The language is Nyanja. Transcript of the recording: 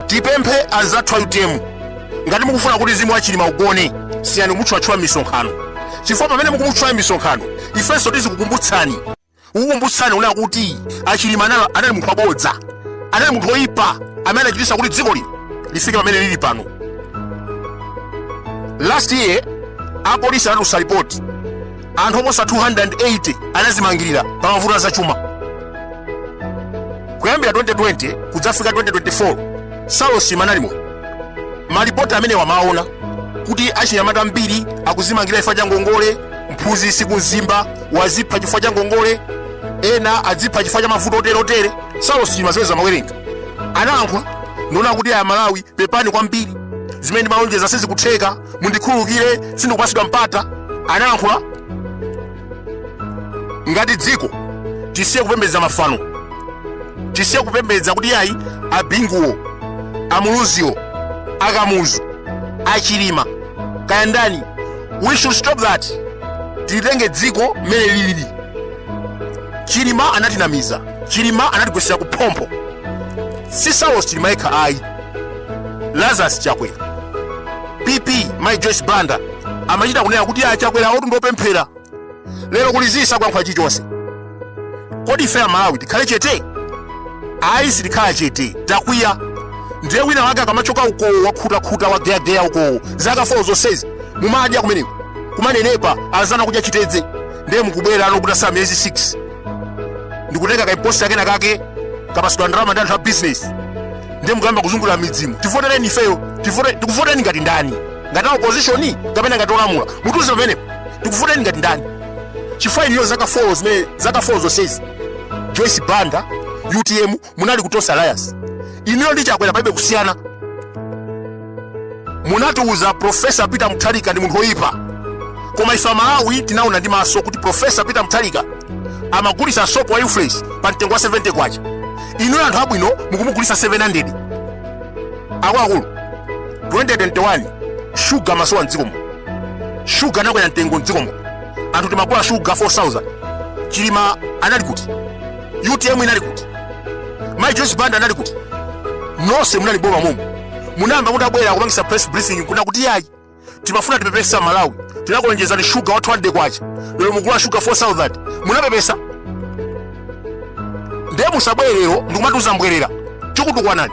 tipemphe anzathu a utm ngati mukufuna kuti mzimu wa chilima ugone siyani kumutchulatchula m'misonkhano chifukwa pamene mukumutchula m'misonkhano ifenso tizikukumbutsani kukukumbutsani kunena kuti achilima anali anali munthu wabodza anali munthu woyipa amene anachititsa kuti dziko lino lifike pamene lili pano last year apolisi anatulutsa ripoti anthu oposa 280 anadzimangirira pa mavuto a zachuma kuyambira 2020 kudzafika 2024 saulos chilima analimo malipoti amenewa amaona kuti achinyamata ambiri akudzimangira chifukwa cha ngongole mphunzitsi ku mzimba wadzipha chifukwa cha ngongole ena adzipha chifukwa cha mavuto oterotere saulos chilima zimenezo amawerenga analankhula ndi kunena kuti ayi amalawi pepani kwambiri zimene ndimalonjeza sizikutheka mundikhululukire sindikupatsidwa mpata analankhula ngati dziko tisiye kupembedza mafano tisiye kupembedza kuti ayi abinguwo amuluziwo akamuzu achilima kaya ndani we should stop that tilitenge dziko mmene lilili chilima anatinamiza chilima anatigwetsera kuphompho si saulos chilima yekha ayi lazarus chakwera pp mai joyce banda amachita kunena kuti a chakwera awotu ndi opemphera lero kuli zii sakulankhula chilichonse kodi ife amalawi tikhale chete ayi sitikhala chete takwiya ndiye wina wake akamachoka ukowo wakhutakhuta wageyageya ukowo zaka 4 zonsezi mumadya kumeneko kumanenepa anzanu kudya chitedze ndiye mukubwera pano kutatsala miyezi 6 ndikutenga kaimposti kenakake kapatsidwa ndalama ndi anthu a bizinesi ndiye mukuyamba kuzungulira m'midzimu tivotereni ifeyo tivote- tikuvotereni ngati ndani ngati a opposition kapena ngati olamula mutiuze pamenepo tikuvotereni ngati ndani chifukwa inuyo zaka 4 zimene zaka 4 zonsezi joyce banda utm munali ku tonse alliance inuyo ndi chakwera palibe kusiyana munatiuza profesa peter mutharika ndi munthu woyipa koma ife amalawi tinaona ndi maso kuti profesa peter mutharika amagulitsa sopo wa u-fresh pa mtengo wa 70 kwacha inuyo anthu abwino mukumugulitsa 700 akuluakulu 2021 shuga amasowa mdzikomo shuga anakwera mtengo mdzikomo anthu timagula shuga 4000 chilima anali kuti utm inali kuti mai joyce banda anali kuti nonse munali m'boma momo munayamba mutabwera kupangisa press briefing kunena kuti yayi timafuna tipepese amalawi tinakulonjezani shuga wa 200 kwacha lero mukugula shuga 4000 munapepesa ndiye musabwere lero ndikumatiuza mbwerera tikutukwanani